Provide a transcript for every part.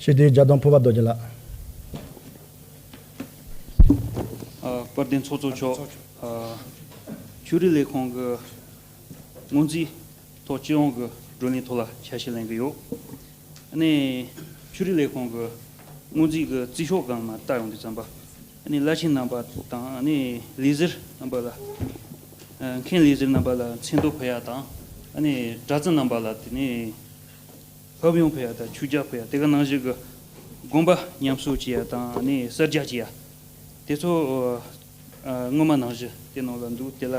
ཞི་བདེའི་རྒྱ་སྟོང་ཕུར་པ་རྡོ་རྗེ་ལགས། དཔལ་ལྡན་ཚོགས་གཙོ་མཆོག་ཕྱུགས་རིགས་ལས་ཁང་གི་སྔོན་རྩིས་ཐོག་སྤྱི་ཡོངས་ཀྱི་བགྲོ་གླེང་ཐོག་ལ་ཆ་ཤས་ལེན་གྱི་ཡོད། ནས་ཕྱུགས་རིགས་ལས་ཁང་གི་སྔོན་རྩིས་ཀྱི་རྩིས་ཤོག་སྒང་མ་བཏགས་ཡོང་དུས་རྩམ་པ་ནས་བླ་ཆེན་རྣམ་པ་དང་ལས་གཟིར་རྣམ་པ་ལ་མཁན་ལས་གཟིར་རྣམ་པ་ལ་མཚན་ཐོ་ཕུལ་ཡག་དང་དྲ་ཚིགས་རྣམ་པ་ལ་དེ་ནས་ཕབ་ཡོང་བུ་ཡ་དང་ཆུ་རྒྱག་བུ་ཡ་དེ་ག་ནང་བཞིན་གྱི་དགོན་པ་ཉམས་གསོ་བྱེད་ཡ་དང་ནི་གསར་རྒྱག་བྱེད་ཡ་དེ་ཚོ་སྔོན་མ་ནང་བཞིན་དེ་ནང་ལ་འདུག་དེ་ལ་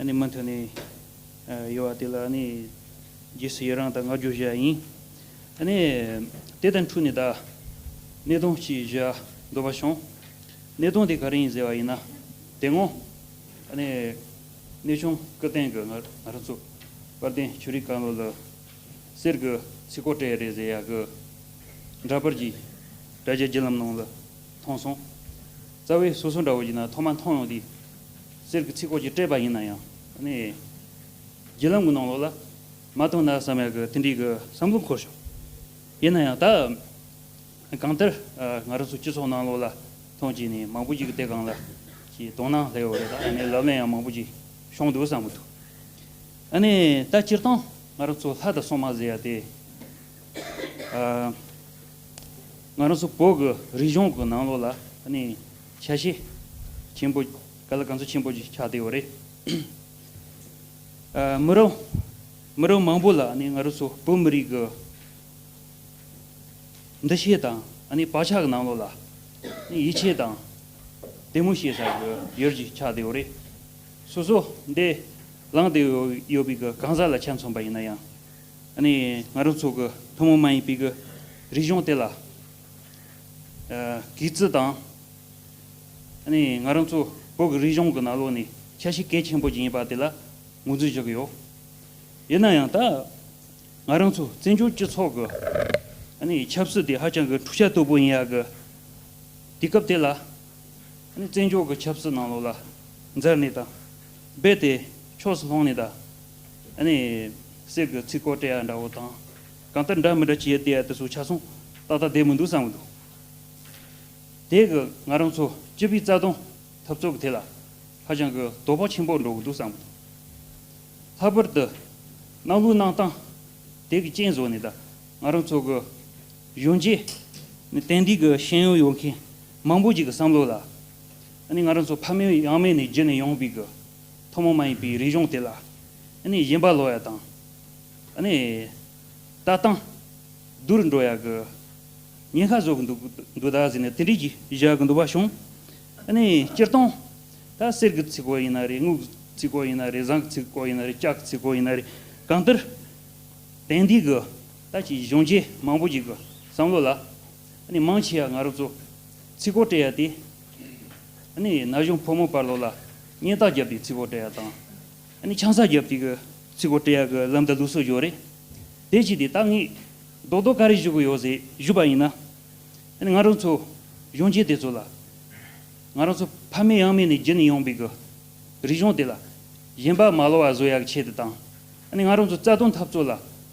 ནི་མུ་མཐུད་ནས་ཡོད་བ་དེ་ལ་ནི་རྗེས་སུ་ཡི་རང་དང་བསྔགས་བརྗོད་བཞེས་ཡ་ཡིན། ནི་དེ་དང་འཁྲུགས་ནས་ད་གནས་སྟངས་གཅིག་བཞེས་ཡ་འདོད་པ་བྱུང། གནས་སྟངས་དེ་ག་རེ་ཡིན་ཟེར་བ་ཡིན་ན་དེ་སྔོན་ནི་གནས་ཆུང་སྐུ་རྟེན་གྱི་ང་རང་ཚོ་དཔལ་ལྡན་ཆོས་རིག་བཀའ་བློན་ལ། གསེར་གྱི་ཚིག་གོ་སྤྲད་རེས་ཟེར་ཡག་གི། འདྲ་པར་གྱིས། དྲ་རྒྱའི་བརྒྱུད་ལམ་ནང་ལ། མཐོང་སོང། རྩ་བའི་སོ་སོའི་འདྲ་བོ་ཡིན་ན་ཐོག་མར་མཐོང་ཡོང་དུས། གསེར་གྱི་ཚིག་གོ་གྱིས་སྤྲད་པ་ཡིན་ན་ཡང། ནི། བརྒྱུད་ལམ་གྱི་ནང་ལོགས་ལ། མ་མཐོང་ན་བསམ་ཡག་གི་དེ་འདྲའི་གི་བསམ་བློ་འཁོར་བྱུང། ཡིན་ན་ཡང་ད། གང་ལྟར། ང་རང་ཚོའི་སྤྱི་ཚོགས་ནང་ལོགས་ལ། མཐོང་བྱས་ནས་མང་པོ་ཞིག་གི་སྟེས་གང་ལ། གྱིས་དོང་ན་སླེ་ཡོད་རེད་ད། ནི་ལབ་གླེང་ཡང་མང་པོ་ཞིག། བྱུང་འདུག་བསམ་གི་འདུག། ཨ་ནི་ད་སྤྱིར་བཏང་ང་རང་ཚོ་ལྷ་དང་སྲུང་མ་ཟེར་ཡ་དེ། ང་རང་ཚོ་བོད་ཀྱི་རིག་གཞུང་གི་ནང་ལོགས་ལ་ཨ་ནི་ཆ་ཤས་ཆེན་པོ་ག་ལ་གང་ཚོད་ཆེན་པོ་ཆགས་བསྡད་ཡོད་རེད། མི་རབས་མི་རབས་མང་པོ་ལ་ཨ་ནི་ང་རང་ཚོ་བོད་མི་རིགས་ཀྱི་འདུ་ཤེས་དང་ཨ་ནི་བག་ཆགས་ཀྱི་ནང་ལོགས་ལ་ཡིད་ཆེས་དང་དད་མོས་བྱེད་ས་ཡོད་ཀྱི་ཆགས་བསྡད་ཡོད་རེད། སོ་སོ་འདས་ལངས་ཏེ་ཡོད་པའི་གི་གང་ཟག་ལ་ཆ་མཚོན་པ་ཡིན་ན་ཡང། ནི་ང་རང་ཚོ་གི་ཐུན་མོང་མ་ཡིན་པའི་གི་རིག་གཞུང་དེ་ལ། གི་རྩི་དང། ནི་ང་རང་ཚོ་བོད་གི་རིག་གཞུང་གི་ནང་ལོགས་ནས་ཆ་ཤས་གལ་ཆེན་པོ་ཅིག་ཡིན་པ་དེ་ལ་ངོས་འཛིན་བཞག་གི་ཡོད། ཡིན་ན་ཡང་ད་ང་རང་ཚོ་བཙན་བྱོལ་སྤྱི་ཚོགས་ཀྱི། ནི་ཆབ་སྲིད་དེ་ཧ་ཅང་གི་འཁྲུག་ཆ་དོད་པོ་ཡིན་ཡག་གི་དུས་སྐབས་དེ་ལ། བཙན་རྒྱོགས་ཀྱི་ཆབ་སྲིད་ནང་ལོགས་ལ་འཛེར་ནས་དང། རྦད་དེ་ཕྱོགས་སུ་ལྷུང་ནས་ད་ནི་གསེར་གྱི་ཚིག་གོ་བཀྲལ་ཡ་འདྲ་བོ་དང། གང་ལྟར་འདྲ་མི་འདྲ་བྱས་ཏེ་དེ་ཚོ་ཆ་ཚང་ཏག་ཏག་བསྡད་མི་འདུག་བསམ་གྱི་འདུག། དེས་གི་ང་རང་ཚོ་སྤྱི་པའི་རྩ་དོན་འཐབ་རྩོད་ཀྱི་ཐད་ལ་ཧ་ཅང་གི་དོ་ཕོག་ཆེན་པོ་འགྲོ་གི་འདུག་བསམ་གྱི་འདུག། ལྷག་པར་དུ་གནང་ལུགས་གནང་སྟངས་དེ་གི་རྐྱེན་བཟོ་ནས་ད་ང་རང་ཚོ་གི་གཞོན་སྐྱེས་ནི་དེང་དུས་ཀྱི་ཤེས་ཡོན་ཡོད་མཁན་མང་པོ་ཞིག་གི་བསམ་བློ་ལ། ཨ་ནི་ང་རང་ཚོ་ཕ་མེས་ཡང་མེས་ནས་རྒྱུད་ནས་ཡོང་བའི་གི་ཐུན་མོང་མ་ཡིན་པའི་རིག་གཞུང་དེ་ལ། ཨ་ནི་གཞན་པ་ལོ་ཡ་དང། ཨ་ནི། ལྟ་སྟངས། བསྡུར་འགྲོ་ཡ་གི། ཉེན་ཁ་བཟོ་གི་འདུག་འདུག་ད་ཟེར་ནས་དེ་འདྲས་ཀྱི་བཞག་གི་འདུག་པ་བྱུང། ཨ་ནི་སྤྱིར་བཏང། ད་གསེར་གི་ཚིག་གོ་ཡིན་ན་རེད་དངུལ་གི་ཚིག་གོ་ཡིན་ན་རེད་ཟངས་ཀྱི་ཚིག་གོ་ཡིན་ན་རེད་ལྕགས་ཀྱི་ཚིག་གོ་ཡིན་ན་རེད་གང་ལྟར། དེང་དུས་གི་ད་ཀྱི་གཞོན་སྐྱེས་མང་པོ་ཞིག་གི་བསམ་བློ་ལ། ནི་མང་ཆེ་བ་ང་རོ་ཙོ། ཚི་གོ་སྤྲད་ཡ་སྟེ། ནི་ན་གཞོང་ཕོ་མོ་དཔའ་ལོ་ལ། གཉེན་རྟགས་བརྒྱབ་སྟེ་ཚི་གོ་སྤྲད་ཡ་དང། ནི་ཆང་ས་བརྒྱབ་སྟེ་གི་ཚི་གོ་སྤྲད་ཡ་གི་ལམ་དང་ལུགས་སོགས་བཞོ་རེ། དེ་ཅི་སྟེ་ད་ངས། རྡོག་རྡོག་ཀ་རེ་བཞུ་གི་ཡོད་ཟེ་བཞུ་པ་ཡིན་ན། ནི་ང་རོ་ཚོ། གཞོང་ཆེན་དེ་ཚོ་ལ། ང་རོ་ཚོ་ཕ་མེས་ཡང་མེས་ནས་བརྒྱུད་ནས་ཡོང་པའི་གི། རི་གཞོང་དེ་ལ། གཞན་པ་མ་ལོ་བ་བཟོ་ཡ་གི་ཆེད་དུ་དང། ནི་ང་རོ་ཚོ་རྩ་དོན་འཐབ་རྩོད་ལ།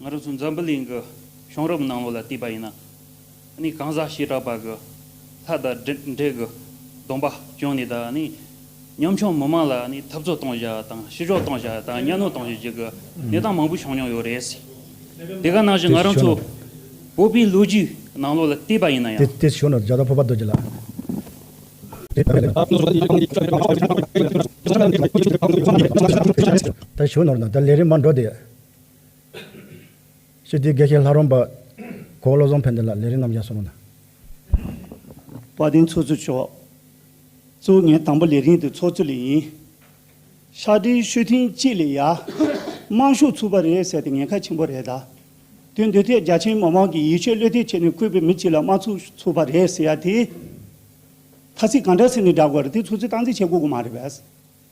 ང་རང་ཚོ་འཛམ་བུ་གླིང་གི་བྱུང་རབས་ནང་ལོགས་ལ་བལྟས་པ་ཡིན་ན་ནི་གང་ཟག་བྱེ་བྲག་པ་གི་ལྷ་དང་འདྲེ་གི་སྡོམ་པ་བྱུང་ནས་དང་ནི་ཉམ་ཆུང་མི་མང་ལ་ནི་འཐབ་རྩོད་གཏོང་བཞག་དང་ཤི་གཞོག་གཏོང་བཞག་དང་གཉའ་གནོན་གཏོང་བཞག་བྱེད་ཀྱི་གནས་སྟངས་མང་པོ་བྱུང་མྱོང་ཡོད་རེད། དེ་ག་ནང་བཞིན་ང་རང་ཚོ་བོད་པའི་ལོ་རྒྱུས་ནང་ལོགས་ལ་བལྟས་པ་ཡིན་ན་ཡང། དེ་བྱུང་ནས་རྒྱ་དང་བོད་པ་རྡོ་རྗེ་ལ། ད་བྱུང་ནོར་ན་ད་ལས་རིམ་མ་འགྲོ་དེ། ཞེས་དེའི་དགེ་བཤེས་ལྷ་རོང་པ། གོ་བ་བློ་བཟང་ཕན་བདེ་ལགས་ལས་རིགས་རྣམ་བཞག་སོགས་གནང། བཀའ་དྲིན་ཚོགས་གཙོ་མཆོག། གཙོ་བོ་ངའི་དང་པོ་ལས་རིང་དུ་ཚོགས་གཙོ་ལས་ཡིན། ཤག་དྲིལ་བཤོལ་ཐེངས་གཅིག་ལས་ཡ། དམངས་ཤོག་ཚུགས་པ་རེད་ཟེར་ཏེ་ངན་ཁ་ཆེན་པོ་རེད་ད། དོན་འདི་ཐད་རྒྱ་ཆེན་མི་མང་གིས་ཡིད་ཆེས་བློས་གཏད་བྱས་ནས་བསྐོས་པའི་མི་གཅིག་ལ་དམངས་ཚོགས་ཚུགས་པ་རེད་ཟེར་ཡ་དེ། ཐ་ཚིག་གང་འདྲ་ཟེར་ནས་བསྒྲགས་དགོས་རེད་དེ་ཚོགས་གཙོས་སྟངས་འཛིན་བྱེད་དགོས་དགོས་མ་རེད་བས།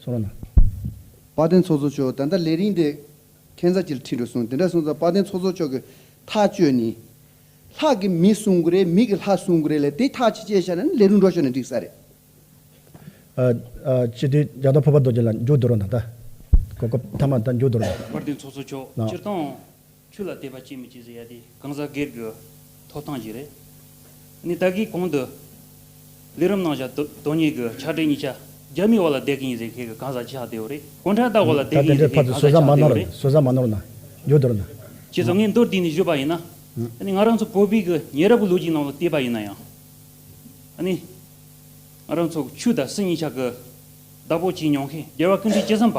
ཚོགས་ར་ན། དཔའ་ལྡན་ཚོགས་གཙོ་མཆོག་ད་ལྟ་ལས་རིང་དེ། ཁྱད་མཚར་ཅིག་ལ་ཁྲིད་འགྲོ་གསུངས་དེ་འདྲ་གསུངས་ཙང་དཔའ་ལྡན་ཚོགས་གཙོ་མཆོག་གི་ཐག་གཅོད་ནི། ལྷག་གི་མི་གསུང་དགོས་རེད་མི་གི་ལྷག་གསུང་དགོས་རེད་ལས་དེ་ཐག་ཆེ་ཆེ་བྱས་ན་ལས་རུང་འགྲོ་ཤོར་ནས་འགྲིག་ས་རེད། ཅི་སྟེ་རྒྱ་དང་ཕོ་བ་རྡོ་རྗེ་ལ་འཇུག་འདོད་རུང་ད་ལྟ། གོ་སྐབས་མཐའ་མ་ད་འཇུག་འདོད་རུང། དཔའ་ལྡན་ཚོགས་གཙོ་མཆོག་སྤྱིར་བཏང། ཆུ་ལ་དད་པ་ཅིས་མི་བྱེད་ཟེར་ཡ་དེ་གང་ཟག་སྒེར་གྱི་ཐོབ་ཐང་ཞིག་རེད། ནི་ད་གིས་གོང་དུ་ལས་རིམ་གནང་བཞག་དོན་གཉེར་གྱི་ཕྱག་སྦྲེལ་གཉིས་ཆ་རྒྱ་མིའི་བར་ལ་དད་གི་ཡིན་ཟེར་མཁན་གྱི་གང་ཟག་ཆགས་བསྡད་བོ་རེད་གུང་ཁྲན་ཏང་བར་ལ་དད་ད་གི་དེ་ཡིན་འདྲའི་ཟེར་བར་མཁན་དུ་གང་ཟོ་ཟ་ཟ་ཟ་མ་བསྡད་བོ་ནོར་རེད། ཟོ་ཟ་མ་ནོར་ན་རྒྱུ་དོར་ན། བྱས་སོང་ངས་མདོར་དེད་ནས་བརྗོད་པ་ཡིན་ན། ང་རང་ཚོ་བོད་པའི་གི་ཉེ་རབས་ཀྱི་ལོ་རྒྱུས་ནང་ལ་བལྟས་པ་ཡིན་ན་ཡང། ནི་ང་རང་ཚོ་ཆུ་དང་སྲིན་གཉིས་ཆ་གི་བདག་པོ་བྱས་མྱོང་མཁན་རྒྱལ་བ་ཀུན་འདུས་སྐྱེས་ཟམ་པ།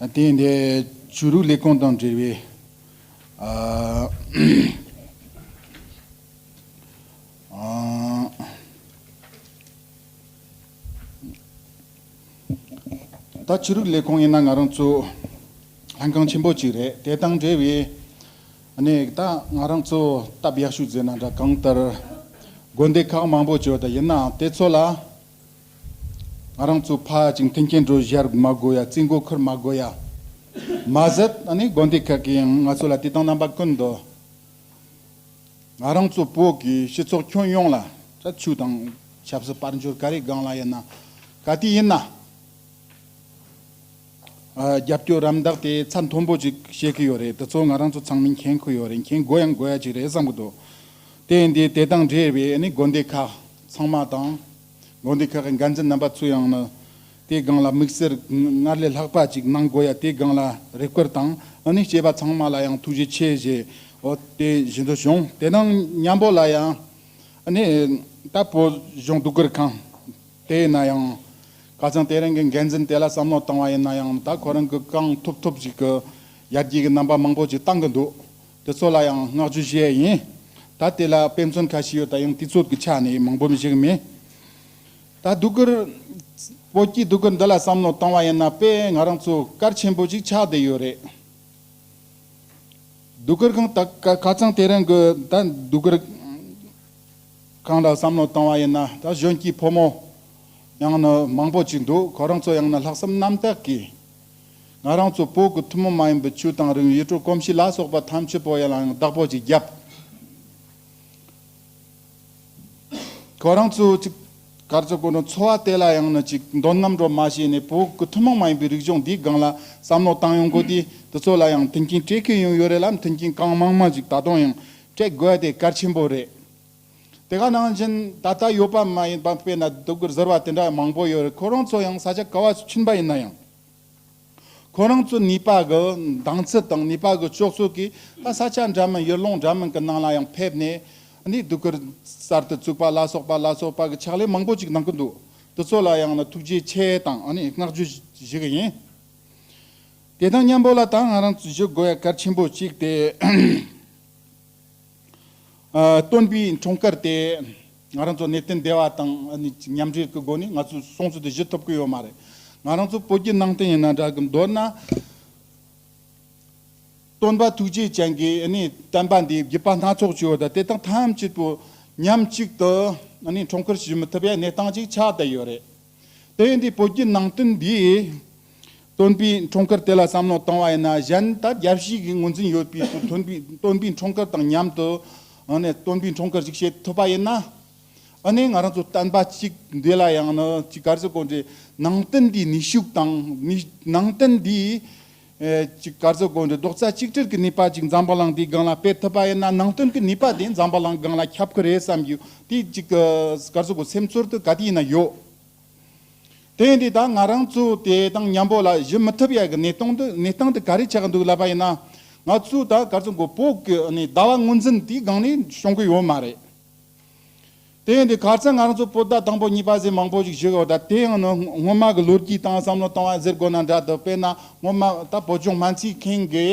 དེ་འདྲའི་བྱུ་རུའི་ལས་ཁུངས་དང་འབྲེལ་བའི་ད་བྱུ་རུའི་ལས་ཁུངས་ཡིན་ན་ང་རང་ཚོ་ལྷན་ཁང་ཆེན་པོ་གཅིག་རེད་དེ་དང་འབྲེལ་བའི་གནས་ད་ང་རང་ཚོ་སྟབས་ཡག་ཤོས་རྫས་ན་འདྲ་གང་ལྟར་དགོན་སྡེ་ཁག་མང་པོ་བྱོས་ད་ཡིན་ནའང་དེ་ཚོ་ལ། ང་རང་ཚོ་ཕ་ཅིང་མཐུན་རྐྱེན་སྒྲོལ་བཞར་མ་དགོས་ཡ་རྩིས་མགོ་འཁོར་མ་དགོས་ཡ། མ་ཟད་ད་ནི་དགོན་སྡེ་ཁག་གིས་ཡང་ང་ཚོ་ལ་དེ་དང་རྣམ་པ་ཀུན་ཏུ། ང་རང་ཚོ་བོད་ཀྱི་སྤྱི་ཚོགས་ཁྱོན་ཡོངས་ལ་དྲག་ཆུ་དང་ཆབ་སྲིད་དཔལ་འབྱོར་ག་རེ་སྒང་ལ་ཡིན་ན་ག་དུས་ཡིན་ན། རྒྱབ་སྐྱོར་རམ་མདག་དེ་ཚ་མཐོན་པོ་ཅིག་བྱེད་ཀྱི་ཡོད་རེད་དེ་ཚོ་ང་རང་ཚོ་ཚང་མས་མཁྱེན་ཁུལ་ཡོད་རེད་མཁྱེན་དགོས་ཡང་དགོས་ཡ་ཅིག་རེད་བསམ་གྱི་འདུག་དེ་ཡིན་དུས་དེ་དང་འབྲེལ་བའི་ནི་དགོན་སྡེ་ཁག་ཚང་མ་དང། དགོན་སྡེ་ཁག་གི་འགན་འཛིན་རྣམ་པ་ཚོས་ཡང་ན་དེའི་སྒང་ལ་དམིགས་བསལ་སྔར་ལས་ལྷག་པ་ཅིག་གནང་དགོས་ཡ་དེའི་སྒང་ལ་རེ་སྐུལ་དང་ཨ་ནི་སྐྱེས་པ་ཚང་མ་ལ་ཡང་ཐུགས་རྗེ་ཆེ་བཞེས་དེ་བཞིན་དུ་གཞུང་དེ་སྣང་མཉམ་པོ་ལ་ཡང་ཨ་ནི་ད་བོད་གཞུང་སྡུག་གུར་ཁང་དེ་ཡིན་ན་ཡང་ཁ་ཚང་དེ་རིང་གི་འགན་འཛིན་དེ་ལ་བསམ་བློ་བཏང་བ་ཡིན་ན་ཡང་ད་ཁོ་རང་གི་རྐང་ཐུབ་ཐུབ་ཅིག་གི་ཡར་རྒྱས་ཀྱི་རྣམ་པ་མང་པོ་ཅིག་བཏང་གི་འདུག་དེ་ཚོ་ལ་ཡང་བསྔགས་བརྗོད་བྱས་ཡིན། ད་དེ་ལ་དཔེ་མཚོན་ཁ་ཤས་ཡོད་ད་ཡང་དུས་ཚོད་ཀྱི་ཆ་ནས་མང་པོ་འཇིགས་མེད་ད་སྡུག་གིར། བོད་ཀྱི་སྡུག་གིར་འདི་ལ་བསམ་བློ་བཏང་བ་ཡིན་ན་དཔེ་ང་རང་ཚོ་སྐར་ཆེན་པོ་ཅིག་ཆགས་བསྡད་ཡོད་རེད། སྡུག་གིར་ཁང་དག་ཁ་ཚང་དེ་རིང་གི་ད་སྡུག་གིར་ཁང་ལ་བསམ་བློ་བཏང་བ་ཡིན་ན་ད་གཞོན་སྐྱེས་ཕོ་མོ་ཡང་ན་མང་པོ་ཅིག་འདུག་ཁོ་རང་ཚོ་ཡང་ན་ལྷག་བསམ་རྣམ་དག་གིས། ང་རང་ཚོ་བོད་ཀྱི་ཐུན་མོང་མ་ཡིན་པའི་ཆོས་དང་རིག་གནས་གོམས་གཤིས་ལ་སོགས་པ་ཐམས་ཅད་བོད་ཡིག་ལའང་བདག་པོ་ཅིག་བརྒྱབ། ཁོ་རང་ཚོ་གཅིག་གར་ཚོ་དཀོན་མཆོག་འཚོ་བ་དེ་ལ་ཡང་ནི་ཅིག་འདོན་ནམ་འགྲོ་མ་བྱས་ནས་བོད་ཀྱི་ཐུན་མོང་མ་ཡིན་པའི་རིག་གཞུང་འདིའི་སྒང་ལ་བསམ་བློ་བཏང་ཡོང་དགོས་ཏེ་དེ་ཚོ་ལ་ཡང་མཐུན་རྐྱེན་སྤྲད་མཁན་ཡང་ཡོད་རེད་ལ་མཐུན་རྐྱེན་གང་མང་མང་ཅིག་ད་དུང་ཡང་སྤྲད་དགོས་དེ་གལ་ཆེན་པོ་རེད། དེ་ག་ནང་བཞིན་ད་ལྟ་ཡོད་པ་མ་ཡིན་པ་དཔེར་ན་སྡུག་གུར་ཟེར་བ་དེ་འདྲ་མང་པོ་ཡོད་རེད་ཁོ་རང་ཚོ་ཡང་ས་ཆ་ག་བ་སུ་ཕྱིན་པ་ཡིན་ན་ཡང། ཁོ་རང་ཚོའི་ནུས་པ་གི་འདང་ཚད་དང་ནུས་པ་གི་སྤྱོད་ཚུལ་གྱིས་ད་ས་ཆ་འདྲ་མིན་ཡུལ་ལུང་འདྲ་མིན་གྱི་ནང་ལ་ཡང་ཕེབས་ནས་འདིའི་སྡུག་གུར་གསར་དུ་བཙུགས་པ་ལ་སོགས་པ་ལ་སོགས་པ་གི་ཕྱག་ལས་མང་པོ་ཅིག་གནང་གི་འདུག་དེ་ཚོ་ལ་ཡང་ན་ཐུགས་རྗེ་ཆེ་དང་བསྔགས་བརྗོད་བཞེས་ཀྱི་ཡིན། དེ་དང་མཉམ་པོ་ལ་ད་ང་རང་ཚོས་ཞུ་དགོས་པའི་གར་ཆེན་པོ་གཅིག་དེ། སྟོན་པའི་འཁྲུངས་སྐར་དེ་ང་རང་ཚོ་གནས་བརྟན་སྡེ་བ་དང་མཉམ་འབྲེལ་གྱི་སྒོ་ནས་ང་ཚོས་སྲུང་བརྩི་དེ་བཞེས་ཐུབ་ཀྱི་ཡོད་མ་རེད། ང་རང་ཚོ་བོད་ཀྱི་ནང་བསྟན་ཡིན་ན་འདྲ་གི་མདོར་ན། སྟོན་པ་ཐུགས་རྗེ་ཅན་གྱིས་བསྟན་པ་འདིའི་དགེ་བ་སྣ་ཚོགས་བྱས་ཡོད་ད་དེ་དག་ཐམས་ཅད་དུ་མཉམ་གཅིག་ཏུ་འཁྲུངས་སྐར་བྱེད་མི་ཐུབ་པའི་གནས་སྟངས་ཅིག་ཆགས་བསྡད་ཡོད་རེད། དེ་འདི་བོད་ཀྱི་ནང་དོན་འདི། སྟོན་པའི་འཁྲུངས་སྐར་དེ་ལ་བསམ་བློ་བཏང་བ་ཡིན་ན་གཞན་ད་རྒྱལ་བཤིག་གི་ངོས་འཛིན་ཡོད་པའི་དུས་སྟོན་པའི་སྟོན་པའི་འཁྲུངས་སྐར་དང་མཉམ་དུ། སྟོན་པའི་འཁྲུངས་སྐར་ཞིག་བྱེད་ཐུབ་པ་ཡིན་ན། ནི་ང་རང་ཚོ་བསྟན་པ་གཅིག་འདི་ལ་ཡང་ནི་གཅིག་ག་ཚོད་དགོངས་འགྲེལ། ནང་དོན་འདིའི་ནུས་ཤུགས་དང། ནང་དོན་འདིའི། གཅིག་སྐར་ཚོགས་དགོན་དུ་རྡོག་རྩ་གཅིག་སྒྲིལ་གྱི་ནུས་པ་ཅིག་འཛམ་བུ་གླིང་འདིའི་སྒང་ལ་སྤེལ་ཐུབ་པ་ཡིན་ན་ནང་དོན་གྱི་ནུས་པ་དེ་འཛམ་བུ་གླིང་སྒང་ལ་ཁྱབ་ཀྱི་རེད་བསམ་རྒྱུ་དེ་གཅིག་སྐར་ཚོགས་ཀྱི་སེམས་ཚོར་དུ་ག་དུས་ཡིན་ན་ཡོད། དེ་འདི་ད་ང་རང་ཚོ་དེ་དང་མཉམ་པོ་ལ་གཞི་མི་ཐུབ་ཡག་གི་གནས་སྟངས་དུ་གནས་སྟངས་དེ་ག་རེ་ཆགས་ཀྱི་འདུག་ལབ་པ་ཡིན་ན། ང་ཚོ་ད་སྐར་ཚོགས་གི་བོད་ཀྱི་ཟླ་བ་ངོས་འཛིན་དེའི་སྒང་ནས་བྱུང་གི་ཡོད་མ་རེད། དེ་ཡིན་དུས་ག་ཚད་ང་རང་ཚོ་པོ་ཏཱ་དང་པོ་གཉིས་པ་ཟེར་མང་པོ་ཞིག་བཞུགས་ཡོད་ད་དེ་ཡང་ནི་སྔོན་མ་གི་ལོ་རྒྱུས་དང་བསམ་བློ་བཏང་བ་ཟེར་དགོས་ན་འདྲ་འདུག་དཔེར་ན་སྔོན་མ་ད་བོད་ལྗོངས་སྨན་རྩིས་མཁན་དགེ་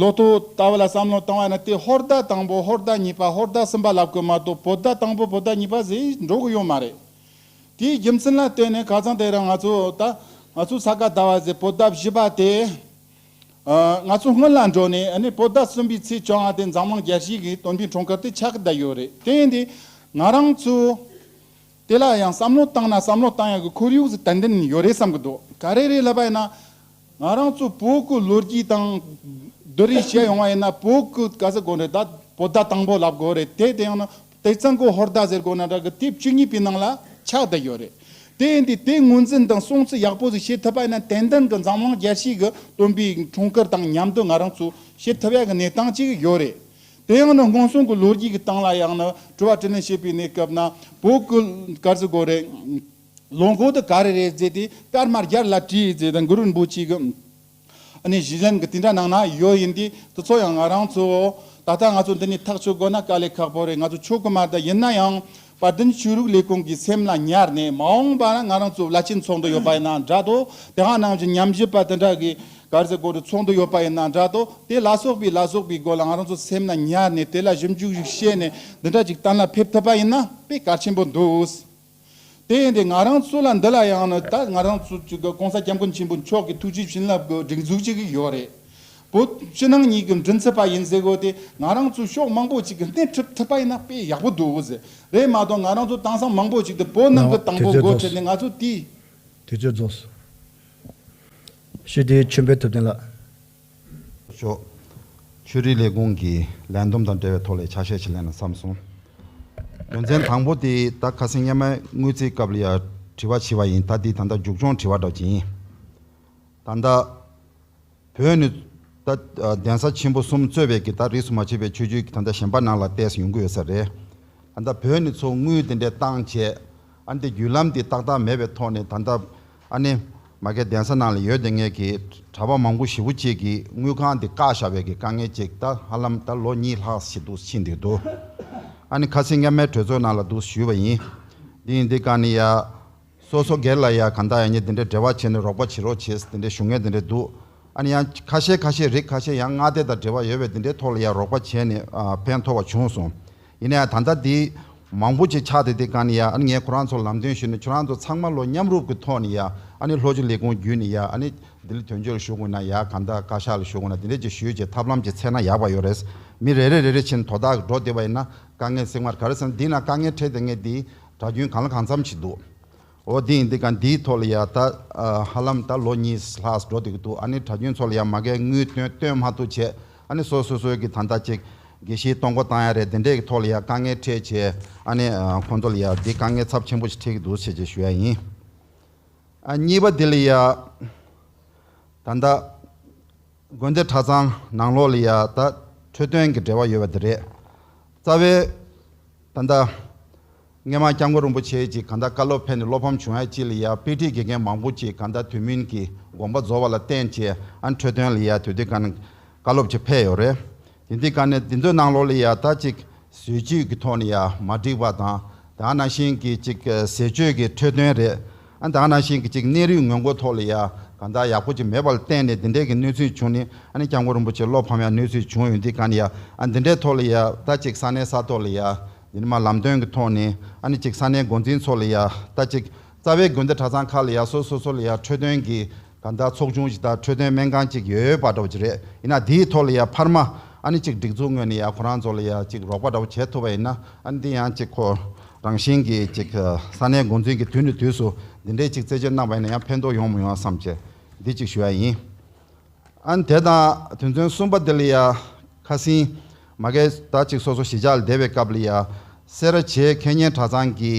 ལོ་ཐོ་ལྟ་བུ་ལ་བསམ་བློ་བཏང་བ་ནི་དེ་ཧོར་ཟླ་དང་པོ་ཧོར་ཟླ་གཉིས་པ་ཧོར་ཟླ་གསུམ་པ་ལབ་དགོས་མ་གཏོགས་པོ་ཏཱ་དང་པོ་པོ་ཏཱ་གཉིས་པ་ཟེར་འགྲོ་གི་ཡོད་མ་རེད། དེའི་རྒྱུ་མཚན་ལ་བལྟོས་ནས་ག་ཚང་དེ་རིང་ང་ཚོ་ད་ང་ཚོ་ས་ག་ཟླ་བ་ཟེར་པོ་ཏཱ་བཞི་པ་དེ། ང་ཚོ་སྔོན་ལ་འགྲོ་ནས་ནས་པོ་ཟླ་གསུམ་པའི་ཚེས་བཅོ་ལྔ་སྟེ་འཛམ་གླིང་རྒྱལ་སྤྱིའི་གི་དོན་པའི་གྲོང་ཁྱེར་དེ་ཆགས་ཀྱི་བསྡད་ཡོད་རེད་དེ་ཡིན་དུས་ང་རང་ཚོ་དེ་ལ་ཡང་བསམ་བློ་བཏང་ན་བསམ་བློ་བཏང་ཡག་གི་ཁོར་ཡུག་ཟད་ལྡན་ཡོད་རེད་བསམ་གྱི་འདུག་ག་རེ་རེད་ལབ་པ་ཡིན་ན་ང་རང་ཚོ་བོད་ཁུལ་ལོ་རྒྱུས་དང་བསྡུར་རེས་བྱས་ཡོང་བ་ཡིན་ན་བོད་ཁུལ་ག་ས་གོ་རེད་ད་པོ་ཟླ་དང་པོ་ལབ་དགོས་རེད་དེ་དེ་ཡང་ན་དེ་གཙང་གོ་ཧོར་ཟླ་ཟེར་དགོས་ན་འདྲ་གི་དེབ་བཅུ་གཉིས་པའི་ནང་ལ་ཆགས་བསྡད་ཡོད་རེད། དེ་ཡིན་དུས་དེ་ངོས་འཛིན་དང་སྲུང་བརྩི་ཡག་པོ་ཟིག་བྱེད་ཐུབ་པ་ཡིན་ན་དེ་འདྲ་གི་འཛམ་གླིང་རྒྱལ་སྤྱི་གི་སྟོན་པའི་འཁྲུངས་སྐར་དང་མཉམ་དུ་ང་རང་ཚོས་བྱེད་ཐུབ་ཡག་གི་གནས་སྟངས་ཅིག་ཡོད་རེད། དེ་ཡང་ནི་སྔོན་སོང་གི་ལོ་རྒྱུས་ཀྱི་སྟེང་ལ་ཡང་ནི་དྲི་བ་དྲི་ལན་བྱེད་པའི་གནས་སྐབས་ན་བོད་སྐུ་དཀར་ཟེར་དགོས་རེད། ལོ་འགོ་དུ་ག་རེ་རེད་ཟེར་དུས་དཀར་དམར་སྒྱར་ལ་དྲིས་ཟེར་དང་གུ་རུ་རིན་པོ་ཆེ་གི། ཨ་ནི་གཞི་གཞན་གྱི་དེ་འདྲ་ནང་ན་ཡོད་ཡིན་དུས་དེ་ཚོ་ཡང་ང་རང་ཚོའོ། ད་ལྟ་ང་ཚོ་འདི་ནས་ཐག་གཅོད་དགོས་ན་དཀའ་ལས་ཁག་པོ་རེད་ང་ཚོ་ཆོས་ཀྱི་མ་དག་ཡིན་ན་ཡང་བར་དོའི་ཆོས་རིག་ལས་ཁུངས་ཀྱི་སེམས་ལ་ཉར་ནས་མ་འོངས་པ་ན་ང་རང་ཚོ་བླ་ཆེན་ཚོགས་འདུ་ཡོད་པ་ཡིན་ན་འདྲ་དོ་དེ་ཧང་ནང་བཞིན་ཉམས་ཞིབ་པ་དེ་འདྲ་གི་གར་ཟེར་སྐོར་དུ་ཚོགས་འདུ་ཡོད་པ་ཡིན་ན་འདྲ་དོ་དེ་ལ་སོགས་པའི་ལ་སོགས་པའི་སྐོར་ལ་ང་རང་ཚོ་སེམས་ལ་ཉར་ནས་དེ་ལ་ཞིབ་འཇུག་ཞིག་བྱས་ནས་འདི་འདྲ་ཅིག་གཏན་ལ་ཕེབས་ཐུབ་པ་ཡིན་ན་དཔེ་གལ་ཆེན་པོ་འདུག་དེ་ཡིན་ཏེ་ང་རང་ཚོ་ལ་འདི་ལ་ཡང་ནི་ད་ང་རང་ཚོ་ཚོ་གི ྋགོང་ས ྋསྐྱབས་མགོན་ཆེན་པོ་མཆོག་གི་ཐུགས་རྗེའི་བྱིན་རླབས་ཀྱི་སྒྲིག་འཛུགས་ཅིག་ཡོད་རེད། བོད་ཕྱི་ནང་གཉིས་ཀྱི་མགྲིན་ཚབ་པ་ཡིན་ཟེར་དགོས་ཏེ་ང་རང་ཚོ་ཕྱོགས་མང་པོ་ཅིག་གི་སྣེ་ཁྲིད་ཐུབ་པ་ཡིན་ན་དཔེ་ཡག་པོ་འདུག་ཟེར་རེད་མ་གཏོགས་ང་རང་ཚོ་དེང་སང་མང་པོ་ཅིག་ཏུ་བོད་ནང་གི་དང་པོ་མགོ་ཁྲིད་ནས་ང་ཚོ་དེའི། དུས་ཚོད་རྫོགས་སོང། ཞི་བདེའི་མཆོད་འབུལ་ཐུབ་བསྟན་ལགས། ཤོག། ཆོས་རིག་ལས་ཁུངས་ཀྱིས་ལན་འདུམ་དང་འབྲེལ་བའི་ཐོག་ལས་འཆར་ཤས་ཆེ་ལེན་ན་བསམ་སོང། དོན་ཚན་དང་པོ་དེ་ད་ཁ་སེང་གཉའ་མའི་དངུལ་རྩིས་སྐབས་ལ་ཡང་དྲི་བ་བྱས་པ་ཡིན་ད་དེ་ད་ལྟ་མཇུག་སྐྱོང་དྲི་བ་སྒྲོག་གྱིན། ད་ལྟ། བོད་ནི། ད། གདན་ས་ཆེན་པོ་གསུམ་གཙོས་པའི་གི་ད་རིས་སུ་མ་ཆད་པའི་ཆོས་བརྒྱུད་ཀྱི་ད་ལྟ་གཞན་པ་ནང་ལ་བལྟས་སུ་ཡོང་གི་ཡོད་ས་རེད། ད་ལྟ་བོད་ནི་མཚོ་དངུལ་དེ་འདྲའི་བཏང་བྱས། ཨ་འདི་བརྒྱུད་ལམ་དེ་ཏག་ཏག་མེད་པའི་ཐོག་ནས་ད་ལྟ། ཨ་ནེ། མ་གས་གདན་ས་ནང་ལ་ཡོད་དེ་ངས་ཀྱི་གྲྭ་པ་མང་པོ་ཞི་བོ་གཅིག་གིས་དངུལ་ཁང་འདི་བཀག་བཞག་བས་ཀྱི་དཀའ་ངལ་ཅིག་ད་ཧ་ལམ་ད་ལོ་གཉིས་ལྷག་བྱེད་འདུག་ཕྱིན་འདུག་འདུག་ཨ་ནེ་ཁ་སིང་ག་མའི་གྲོས་ཚོགས་ནང་ལ་འདུག་ཞུས་པ་ཡིན། འདི་ཡིན་འདི་གང་ནི་ཡ། སོ་སོ་སྒེར་ལ་ཡ་གང་དག་ཡ་ཉེ་དེ་འདྲའི་འབྲེལ་བ་བྱས་ནས་རོགས་པ་བྱེད་རོགས་བྱས་དེ་འདྲའི་ཞུ་ངལ་དེ་འདྲའི་འདུག་ཨ་ནེ་ཡ། ཁ་ཤས་ཁ་ཤས་རིགས་ཁ་ཤས་ཡང་མངའ་སྡེ་དང་འབྲེལ་བ་ཡོད་བས་དེ་འདྲའི་ཐོག་ལ་ཡ་རོགས་པ་བྱས་ནས་ཕན་ཐོགས་བ་བྱུང་སོང། ཡིན་ཡང་ད་ལྟ་དེ་མང་པོ་ཅིག་ཆགས་འདུག་དེ་ག་ནི་ཡ་ཨ་ནི་ངས་ཁོ་རང་ཚོར་ལམ་སྟོན་ཞུས་ནས་ཁྱོད་རང་ཚོ་ཚང་མ་ལོ་མཉམ་རུབ་ཀྱི་ཐོག་ནས་ཡ་ཨ་ནི་ལྷོ་ཕྱོགས་ལས་ཁུངས་བརྒྱུད་ནས་ཡ་ཨ་ནི་ལྡི་ལི་དོན་གཅོད་ལ་ཞུགས་དགོས་ན་ཡ་ག་ནྡ་བཀའ་ཤག་ལ་ཞུགས་དགོས་ན་དེ་འདྲས་ཅིག་ཞུས་ཅེས་ཐབས་ལམ་ཅིག་འཚལ་ན་ཡག་པ་ཡོད་རེད། མི་རེ་རེ་རེ་རེ་བཞིན་དོ་བདག་གི་འགྲོ་བདེ་བ་ཡིན་ན་དཀའ་ངལ་བསྲིང་བར་ག་རེ་བསམ་དེས་ན་དཀའ་ངལ་འཕྲད་དེ་ངས་དེའི་གྲྭ་རྒྱུན་གང་ལ་གང་འཚམ་ཞིག་འདུག་འོ་དེང་འདི་ག་འདིའི་ཐོག་ལ་ཡང་ད་ཧ་ལམ་ད་ལོ་གཉིས་ལྷག་འགྲོ་འདུག་འདུག་ཨ་ནི་གྲྭ་རྒྱུན་ཚོ་ལ་ཡང་མ་གལ་དངུལ་སྟོན་སྟོན་མ་ཐུག་བྱས་ཨ་ནི་སོ་སོས་སོས་ཀྱི་ད་ལྟ་ཅིག་དགེ་བཤེས་གཏོང་སྒོ་བཏང་ཡ་རེད་དེ་འདྲས་ཀྱི་ཐོག་ལ་ཡང་དཀའ་ངལ་འཕྲད་བྱས་ཨ་ནི་ཁོང་ཚོ་ལ་ཡང་འདི་དཀའ་ངལ་ཚབས་ཆེན་པོ་ཞིག་འཕྲད་ཀྱི་འདུག་བྱས་བྱས་ཞུ་ཡ་ཡིན། གཉིས་པ་འདི་ལ་ཡང་ད་ལྟ་དགོན་སྡེ་གྲྭ་ཚང་ནང་ལོགས་ལ་ཡ་ད་འཕྲོད་བསྟེན་གྱི་འབྲེལ་བ་ཡོད་པ་དེ་རེད། རྩ་བའི། ད་ལྟ། སྔས་མ་སྐྱབས་མགོན་རིན་པོ་ཆེ་གྱིས་ག་ད་བཀའ་སློབ་ཕེབས་ནས་བློ་ཕམ་བྱུང་ཡ་གཅིག་ལ་ཡ་དཔེ་ཁྲིད་དགེ་རྒན་མང་པོ་གཅིག་ག་ད་དུས་མིན་གྱི་དགོངས་པ་རྫོགས་བ་ལ་བརྟེན་བྱས་ཨ་འཕྲོད་བསྟེན་ལ་ཡ་དུས་དེ་ག་ན་བཀའ་སློབ་ཀྱི་ཕེབས་ཡོད་རེད། དེ་འདི་ག་ནས་འདི་འདོད་ནང་ལོག་ལ་ཡང་ད་ཅིག་ཟོལ་བཅུད་ཀྱི་ཐོག་ནས་ཡང་མ་འགྲིག་པ་དང་དག་ན་ཤིང་གི་ཅིག་ཟས་སྤྱོད་ཀྱི་འཕྲོད་དོན་རེད་ཨ་དག་ན་ཤིང་གི་ཅིག་གནས་རིགས་ངོས་མགོ་ཐོག་ལ་ཡང་གང་དག་ཡག་པོ་ཅིག་མེད་པ་ལ་བརྟེན་ནས་འདི་འདྲས་ཀྱི་གནོད་ཚུལ་བྱུང་ནི་ཨ་ནི་སྐྱབས་མགོན་རིན་པོ་ཆེ་བློ་ཕམ་ཡང་གནོད་ཚུལ་བྱུང་ཡོད་འདི་ག་ནི་ཡང་ཨ་འདི་འདྲས་ཐོག་ལ་ཡང་ད་ཅིག་ས་གནས་ས་ཐོག་ལ་ཡང་འདི་ནི་མ་ལམ་སྟོན་གྱི་ཐོག་ནས་ཨ་ནི་ཅིག་ས་གནས་འགོ་འཛིན་ཚོ་ལ་ཡང་ད་ཅིག་རྩ་བའི་དགོན་སྡེ་གྲྭ་ཚང་ཁག་ལ་ཡང་སོ་སོ་སོ་ལ་ཡང་འཕྲོད་དོན་གྱི། ད་ལྟ་ཚོགས་ཆུང་གཞི་བདག་འཕྲོད་བསྟེན་སྨན་ཁང་གཅིག་ཡོད་ཡོད་པ་འདྲ་བོ་ཅིག་རེད་ཡིན་ན་དེའི་ཐོག་ལ་ཡང་འཕར་མ་ཨ་ནི་གཅིག་སྒྲིག་འཛུགས་ངོས་ནས་ཡང་ཁོ་རང་ཚོ་ལ་ཡང་གཅིག་རོགས་པ་འདྲ་བོ་བྱེད་ཐུབ་པ་ཡིན་ན་ཨ་ནི་འདི་ཡང་གཅིག་ཁོ་རང་བཞིན་གྱིས་གཅིག་ས་གནས་འགོ་འཛིན་གྱི་དུས་ནས་དུས་སུ་འདི་འདྲའི་གཅིག་རྩད་གཅོད་གནང་བ་ཡིན་ན་ཡང་ཕན་ཐོགས་ཡོང་མི་ཡོང་བསམ་བྱས་འདི་གཅིག་ཞུ་ཡ་ཡིན། ཨ་ནི་དེ་དང་དུས་མཚུངས་གསུམ་པ་འདི་ལ་ཡང་ཁ་སིན་མ་སྐད་དར་ཅིག་སོ་སོ་ཞི་ཆགས་བདེ་བའི་སྐབས་ལ་ཡ། སེ་ར་བྱེས་མཁས་སྙན་གྲྭ་ཚང་གི་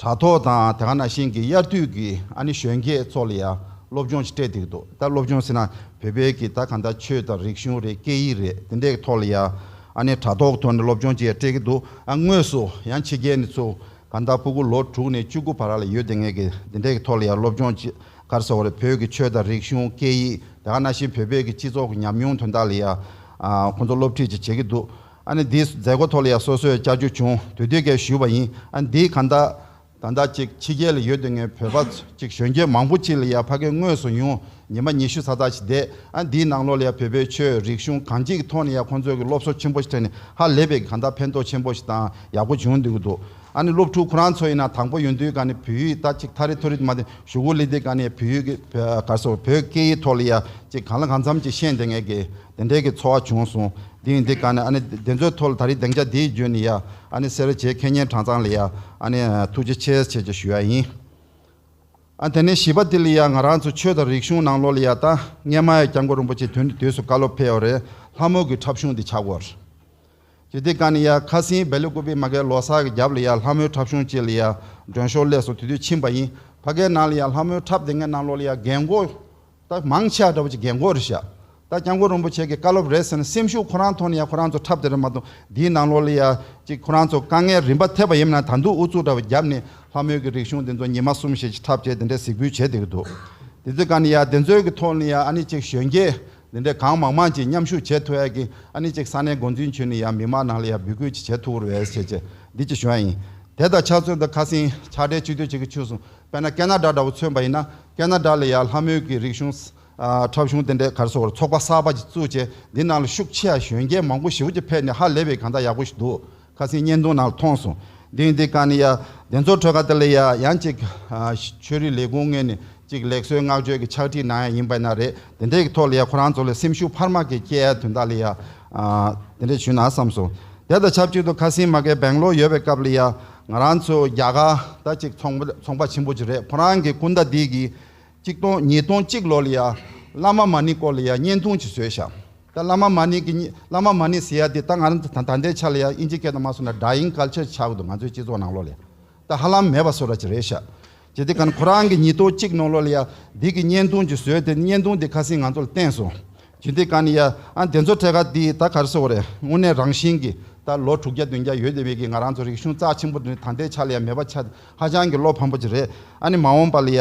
གྲྭ་ཐོག་དང་དེ་ག་ན་ཤིང་གི་དབྱར་དུས་ཀྱི་ཨ་ནེ་གཞོན་སྐྱེས་ཚོ་ལ་ཡ་སློབ་སྦྱོང་ཅིག་སྤྲད་འདུག་ཏོ་ད་སློབ་སྦྱོང་ཟེར་ན་བོད་པའི་གི་ད་ག་ད་ཆོས་དང་རིག་གཞུང་རེད་སྐད་ཡིག་རེད་དེ་འདྲའི་གི་ཐོག་ལ་ཡ་ཨ་ནེ་གྲྭ་ཐོག་གི་ཐོག་ནས་སློབ་སྦྱོང་ཅིག་ཡ་སྤྲད་གི་འདུག་ཨ་དངོས་སུ་ཡང་ཕྱི་རྒྱལ་ནས་ཚུ་ག་ད་སྤུ་གུ་ལོ་དྲུག་ནས་བཅུ་དགུ་བར་ལ་ཡོད་དེ་ངས་གི་དེ་འདྲའི་གི་ཐོག་ལ་ཡ་སློབ་སྦྱོང་ཅིག་གར་སོགས་རེད་བོད་ཀྱི་ཆོས་དང་རིག་གཞུང་སྐད་ཡིག་དེ་ག་ན་བཞིན་བོད་པའི་གི་སྤྱི་ཚོགས་ཀྱི་ཉམས་མྱོང་དོན་དག་ལ་ཡང་ཁོང་ཚོ་སློབ་ཁྲིད་ཅིག་བྱེད་ཀྱི་འདུག་ཨ་ནི་འདིའི་མཛད་སྒོ་ཐོག་ལ་ཡང་སོ་སོས་བཅར་རྒྱུ་བྱུང་དུས་དུས་ཀས་ཞུས་པ་ཡིན་ཨ་ནི་འདིའི་གང་ཟླ། ཟླ་ཟླ་གཅིག་ཕྱི་རྒྱལ་ལ་ཡོད་དུས་ངའི་བོད་པ་ཚོ་གཅིག་གཞོན་སྐྱེས་མང་པོ་གཅིག་ལ་ཡང་ཕ་སྐད་དངོས་སུ་ཡོང་ཉིན་མ་ཉི་ཤུ་ཚ་ཚ་ཞིག་བསྡད་ཨ་ནི་འདིའི་ནང་ལོགས་ལ་ཡང་བོད་པའི་ཆོས་རིག་གཞུང་གང་ཅིག་གི་ཐོག་ནས་ཡང་ཁོང་ཚོས་གི་སློབ་གསོ་ཆེན་པོ་ཞིག་ཐོན་ནས་ཧ་ལས་པའི་གི་གང་ཟླ་ཕན་ཐོགས་ཆེན་པོ་ཞིག་དང་ཡག་པོ་བྱུང་འདུག་གི་འདུག། ཨ་ནི་སློབ་ཕྲུག་ཁོ་རང་ཚོ་ཡིན་ན་དང་པོ་ཡོན་ཏུའི་ག་ནི་བོད་ཡིག་ད་ཅིག་ཐ་རི་ཐོ་རི་དུ་མ་དེ་ཞུ་གུ་ལི་དེ་ག་ནི་བོད་ཡིག་གར་སོ་བོད་སྐད་ཡིག་ཐོག་ལ་ཡ་ཅིག་གང་ལ་གང་འཚམ་ཅིག་ཤེས་འདི་ངས་ཀི་དེ་འདྲས་ཀི་འཚོ་བ་བྱུང་སོང་དེ་ཡིན་དེ་ག་ནི་ཨ་ནི་དེ་ཚོའི་ཐོག་ལ་ད་རི་དེང་ཆ་དེའི་རྒྱུན་ནི་ཡ་ཨ་ནི་སེར་བྱེས་ཁེ་ཉེན་གྲངས་ཚང་ལ་ཡ་ཨ་ནི་ཐུགས་རྗེ་ཆེ་ཆེ་ཆེ་ཞུ་ཡ་ཡིན་ཨ་དེ་ནས་བཞི་པ་དེ་ལ་ཡ་ང་རང་ཚོ་ཆོས་དང་རིག་གཞུང་ནང་ལོག་ལ་ཡ་ད་སྔས་མ་ཡ་སྐྱབས་མགོན་རིན་པོ་ཆེ་དུས་འདི་དུས་སུ་བཀའ་སློབ་ཕེལ་ཡོ་རེད་ལྷ་མོ་གི་འཁྲབ་གཞུང་འདི་ཆགས་དགོས། ཀྱི་དེ་ཀ་ནི་ཡ་ཁ་སིའི་སྦལ་ལི་ཀུ་པི་མ་ཀའི་ལོ་སར་གྱི་རྒྱབ་ལི་ཡ་ལྷ་མོའི་ཁྲབ་གཞུང་བཅས་ལི་ཡ་མགྲོན་ཤོར་ལས་སུ་དུས་དུས་ཕྱིན་པ་ཡིན་བྷ་གའི་ནང་ལི་ཡ་ལྷ་མོའི་ཁྲབ་དེ་ངའི་ནང་ལོ་ལི་ཡ་རྒན་མགོ་སྟག་མང་ཆེ་བ་འདྲ་བོ་ཅིག་རྒན་མགོ་རེད་བཞག་ད་སྐྱབས་མགོན་རིན་པོ་ཆེ་གི་བཀའ་སློབ་རེད་ཟེར་ན་སེམས་ཤུགས་ཁོ་རང་ཐོག་ནི་ཡ་ཁོ་རང་ཚོ་ཁྲབ་དེ་རེད་མ་གཏོགས་འདིའི་ནང་ལོ་ལི་ཡ་ཅིག་ཁོ་རང་ཚོ་དཀའ་ངལ་རིམ་པ་ཐེབས་པ་ཡིན་མིན་ན་ད་འདུག་ཨུ་ཚུགས་འདྲ་བོ་བརྒྱབ་ནི་ལྷ་མོའི་གི་རིག་གཞུང་དེ་ཚོ་ཉི་མ་གསུམ་བཞེས་ཅིག་ཁྲབ་བཅས་དེ་འདྲས་གཟིགས་འབུལ་བྱེད་དེ་གི་འདུག་དེ་ཚོས་ཀ་ནི་ཡ་དེ་ཚོའི་གི་ཐོག་ལི་ཡ་ཨ་ནི་ཅིག་གཞོན་སྐྱེས་འདི་འདྲའི་གང་མང་མང་གྱིས་མཉམ་ཞུགས་བྱེད་ཐུབ་ཨེ་གི་ཨ་ནི་གཅིག་ས་གནས་འགོ་འཛིན་ཁྱོད་ནི་ཡང་མི་མང་ནང་ལ་ཡང་འབུད་སྐུལ་གྱིས་བྱེད་ཐུབ་བོར་བས་བྱས་བྱས་འདི་ཅི་བྱོན་ཡིན། དེ་དང་ཆ་མཚོན་དུ་ཁ་སིང་ཆ་འདྲའི་སྤྱི་འཐུས་གཅིག་གིས་ཆུ་སྲུང་དཔལ་ན་ཀན་ན་དགྲ་འདྲ་བོ་མཚོན་པ་ཡིན་ན་ཀན་ན་དགྲ་ལ་ཡང་ལྷ་མོའི་གི་རིག་གཞུང། འཁྲབ་གཞུང་དེ་འདྲའི་གར་སོགས་བར་ཚོགས་པ་གསར་པ་གཅིག་བཙུགས་བྱས་འདི་ནང་ལ་ཤུགས་ཆེ་ཡ་གཞོན་སྐྱེས་མང་པོ་ཞིག་བོད་ཀྱི་ཕལ་ནི་ཧ་ལས་པའི་གང་ད་ཡག་པོ་ཞིག་འདུག་ཁ་སེང་བརྙན་ཐུང་ནང་ལ་མཐོང་སོང། དེང་འདི་ག་ནི་ཡ། བདེ་འཚོ་ཁྲོད་ཁ་ཏི་ལི་ཡ་ཡང་གཅིག། ཆོས་རིག་ལས་ཁུངས་ངོས་ནས་གཅིག་ལེགས་གསོལ་བསྔགས་བརྗོད་ཀྱི་ཕྱག་བྲིས་གནང་ཡ་ཡིན་པ་ན་རེ། དེ་འདྲའི་ཐོག་ལ་ཡ་ཁོ་རང་ཚོ་ལ་སེམས་ཤུགས་འཕར་མ་གི་སྐྱེ་ཡ་དོན་དག་ལ་ཡ། དེ་འདྲ་བྱུས་ན་བསམ་སོང། དེ་དང་ཆབས་ཅིག་ཏུ་ཁ་སེང་མ་གས་བེང་ལོར་ཡོད་པའི་སྐབས་ལ་ཡ། ང་རང་ཚོ་རྒྱ་གར་ད་ཅིག་ཚོང་པ་ཆེན་པོ་ཅིག་རེད་ཁོ་རང་གི་སྐུ་ཟླ་འདི་གི་གཅིག་སྟོང་ཉིས་སྟོང་གཅིག་ལོ་ལ་ཡང་བླ་མ་མ་ཎི་སྐོར་ལ་ཡང་བརྙན་ཐུང་གཅིག་བཟོས་བཞག་ད་བླ་མ་མ་ཎི་གི་བླ་མ་མ་ཎི་ཟེར་ཡ་དེ་ད་ང་རང་ད་ལྟའི་ཆ་ལ་ཡང་དབྱིན་ཇི་སྐད་དང་མ་སོ་ན་སྒྲ་དབྱིན་སྐད་ཆ་ཆགས་འདུག་ང་ཚོའི་སྤྱི་ཚོགས་ནང་ལོ་ལ་ཡང་ད་ཧ་ལམ་མེད་པ་བཟོ་ར་གཅིག་རེད་བཞག་གྱི་དེ་ག་ཁོ་རང་གི་ཉིས་སྟོང་གཅིག་ནོ་ལོ་ལ་ཡང་འདི་གི་བརྙན་ཐུང་གཅིག་བཟོས་དེ་བརྙན་ཐུང་དེ་ཁ་སིང་ང་ཚོ་ལ་བསྟན་སོང་ཇི་འདི་ག་ནི་ཡ། ཨ་དེ་ཚོ་ཐད་ཀར་འདི་ད་གར་སོ་རེད་དངོས་གནས་རང་བཞིན་གྱི་ད་ལོ་དྲུག་བརྒྱ་བདུན་བརྒྱ་ཡོད་དེ་བས་ཀྱི་ང་རང་ཚོ་རིག་གཞུང་རྩ་ཆེན་པོ་འདི་ནི་ད་ལྟའི་ཆ་ལ་ཡ་མེད་པ་ཆ་ཧ་ཅང་གི་བློ་ཕམ་པོ་ཅིག་རེད་ཨ་ནི་མ་འོངས་པ་ལ་ཡ་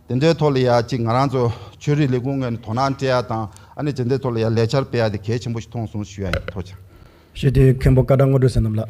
དེ་འདྲའི་ཐོག་ལ་ཡ་ཅིག་ང་རང་ཚོ་ཆོས་རིག་ལས་ཁུངས་ངོས་ནས་དོ་སྣང་སྤྲད་ཡ་དང་ཨ་ནི་ཇི་འདྲའི་ཐོག་ལ་ཡ་ལས་འཆར་སྤེལ་ཡ་དེ་གལ་ཆེན་པོ་ཞིག་མཐོང་སོང་ཞུ་ཡ་ཡིན་ཐོག་ཆ། ཞེས་དེའི་མཁན་པོ་བཀའ་བྲག་སྔོ་འགྲོས་ཟེར་རྣམས་ལ།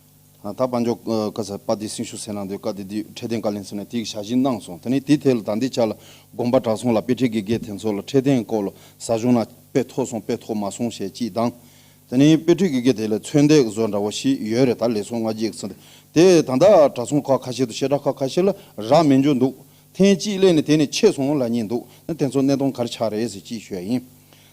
ད་དཔལ་འབྱོར་བཀའ་ཟེར་པ་དེ་སྲིང་ཞུ་ཟེར་ནང་དོན་བཀའ་དེ་དུས་འཕྲལ་བསྟན་བཀའ་ལན་ཟེར་ནས་དེ་ཡི་ཞག་བཞི་གནང་སོང་ད་ནི་དེ་ཐད་ལ་ད་འདི་ཆ་ལ་དགོངས་པ་གྲགས་སོང་ལ་དཔེ་ཁྲིད་དགེ་རྒན་དེ་ཚོ་ལ་འཕྲལ་བསྟན་སྐོར་ལ་ཟ་བྱུང་ན་དཔེ་ཐོག་སོང་དཔེ་ཐོག་མ་སོང་ཞེས་ཅིས་འདང། ད་ནི་དཔེ་ཁྲིད་དགེ་རྒན་དེ་ལས་ཚོད་འདས་བཟོ་འདྲ་བོ་ཞིག་ཡོད་རེད་ད་ལས་སོང་ང་གཅིག་ཟེར་དེ་ད་ལྟ་གྲྭ་ཚང་ཁག་ཁ་ཤས་དང་བཤད་གྲྭ་ཁག་ཁ་ཤས་ལ་རག་མེད་འཇོག་འདུག་ཐེངས་གཅིག་གླས་ནས་དེ་ནས་ཆད་སོང་ལ་ཉེ་འདུག་ན་དེ་ཚོ་གནས་སྟོང་གར་ཆག་རེད་ཟེར་ཅིས་ཤོད་ཨེ་ཡིན།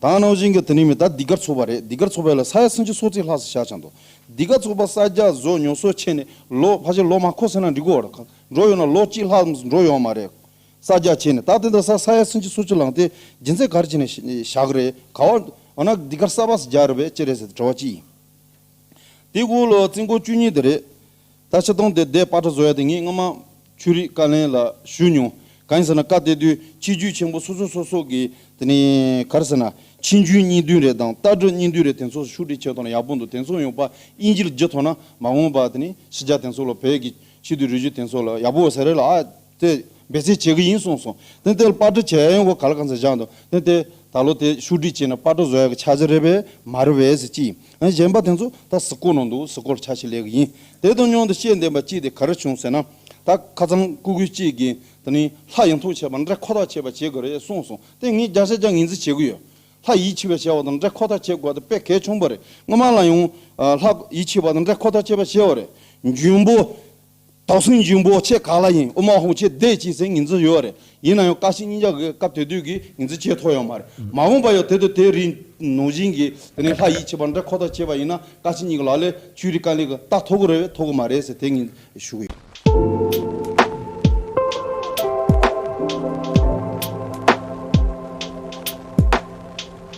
དང་གནང་བཞིན་གྱི་དེ་ནི་མི་དག་འདི་གར་འཚོགས་པ་རེད་འདི་གར་འཚོགས་པའི་ལ་ས་ཡ་སུམ་ཅུ་སོ་གཅིག་ལྷག་སུ་ཞག་ཆ་འདུག་འདི་ག་འཚོགས་པ་ས་རྒྱ་བཟོ་ཉོ་སོ་ཆེ་ནི་ལོ་ཕ་ཆེ་ལོ་མ་ཁོ་ཟེར་ན་འགྲིག་གོ་ར་ཁག་འགྲོ་ཡོང་ན་ལོ་གཅིག་ལྷག་འགྲོ་ཡོང་མ་རེད་ས་རྒྱ་ཆེ་ནི་ད་དེ་འདྲ་ས་ས་ཡ་སུམ་ཅུ་སོ་གཅིག་ལངས་ཏེ་སྦྱིན་ཚེ་གར་བྱས་ནས་ཞག་རེ་ག་བ་འོ་ན་འདི་གར་ས་བ་ས་རྒྱ་རེད་བས་ཅི་རེད་ཟེར་ཏེ་དྲི་བ་ཅི་ཡིན་དེ་གོ་ལོ་རྩིས་འགོ་བཅུ་གཉིས་དེ་རེད་ད་ཆ་སྟོང་སྡེ་དེས་པ་ཏྲ་བཟོ་ཡ་དེ་ངས་སྔོན་མ་ཆོས་རིག་བཀའ་ལན་ལ་ཞུས་མྱོང། གང་ཡིན་ཟེར་ན་བཀའ་གཏད་དུས་ཆེ་རྒྱུད་ཆེན་པོ་སོ་སོ་སོ་སོ་གིས་དེ་ནས་ག་རེ་ཟེར་ན་ཕྱིན་རྒྱུན་གཉིས་བདུན་རེ་དང་ལྟ་གྲུབ་གཉིས་བདུན་རེ་དེ་ཚོ་ཤུགས་དྲིལ་བྱས་ཐོག་ནས་ཡག་པོ་འདུག་དེ་ཚོ་ཡོང་པ་དབྱིན་ཇིར་བརྗེ་ཐོག་ན་མ་འོངས་པ་དེ་ནས་ཕྱི་རྒྱ་དེ་ཚོ་ལ་བོད་ཀྱི་ཕྱི་དུས་རུས་རྒྱུད་དེ་ཚོ་ལ་ཡག་པོ་ཟེར་རེ་ལ་ཨ་ཚེ། འབད་བརྩོན་བྱེད་ཀྱི་ཡིན་གསུངས་སོང། དེ་ལྟར་པར་སྒྲིག་བྱས་ཡོང་བ་ག་ལ་གང་ཟག་བཞག་འདུག་དེ་ལྟའི་ད་ལོ་དེ་ཤུགས་སྒྲིག་བྱས་ན་པར་སྒྲོག་བཟོ་ཡག་གི་ཆ་ཟེར་རེད་པས་མ་རེད་བས་ཟེར་ཅི། ཡང་གཞན་པ་དེ་ཚོ་ད་གཟི་བརྐོ་ནང་འདུག་གཟི་བརྐོར་ཆ་ཤས་ལས་གི་ཡིན། དེ་དང་མཉམ་དུ་ཤེས་ལྡན་པ་གཅིག་དེ་ག་རེ་བྱུང་ཟེར་ན། ད་ཁ་ཚང་སྐུ་སྒུལ་གཅིག་གིས་དེ་ནི་ལྷ་ཡིན་ཐུགས་ཆེ་བ་འདྲེ་ཁོ་ཐག་ཆེ་བ་བྱེད་དགོས་རེད་གསུངས་སོང་དེ་ངས་རྒྱག་ཆ་ཅང་ངེས་འཛིན་བྱེད་ཀྱི་ཡོད། ལྷ་ཡིད་ཆེས་པ་བྱེད་བ་དང་འདྲེ་ཁོ་ཐག་བྱེད་དགོས་ད་དཔེ་གལ་ཆུང་པོ་རེད་སྔོན་མ་ལ་ཡང། ལྷ་ཡིད་ཆེས་པ་དང་འདྲེ་ཁོ་ཐག་བྱེད་པ་བྱས་བ་རེད། འཇུན་པོ། དག་སུན་འབྱིན་པོ་ཁྱེད་ག་ལ་ཡིན་ཨོ་མ་ཧོ་ཁྱེད་བསྡད་ཅེས་ཟེར་ངེས་འཛིན་ཡོད་རེད་ཡིན་ན་ཡང་བཀའ་སྤྱི་གཉིས་ཆ་གི་སྐབས་དེ་དུས་ཀྱི་ངེས་འཛིན་ཆེས་མཐོ་ཡོད་མ་རེད་མ་འོངས་པ་ཡོད་དེ་དུས་དེ་རིང་ནོངས་བཞིན་གྱི་དེ་ནས་ལྷ་ཡིད་ཆེས་པ་འདྲ་ཁོ་ཐག་བྱས་པ་ཡིན་ན་བཀའ་སྤྱི་གཉིས་ཀྱི་ལག་ལས་ཆོས་རིག་དཀའ་ལས་ཀྱི་རྟགས་མཐོ་གི་རེད་བས་མཐོ་གི་མ་རེད་ཟེར་དེ་ངེས་འཛིན་ཞུ་གི་ཡོད།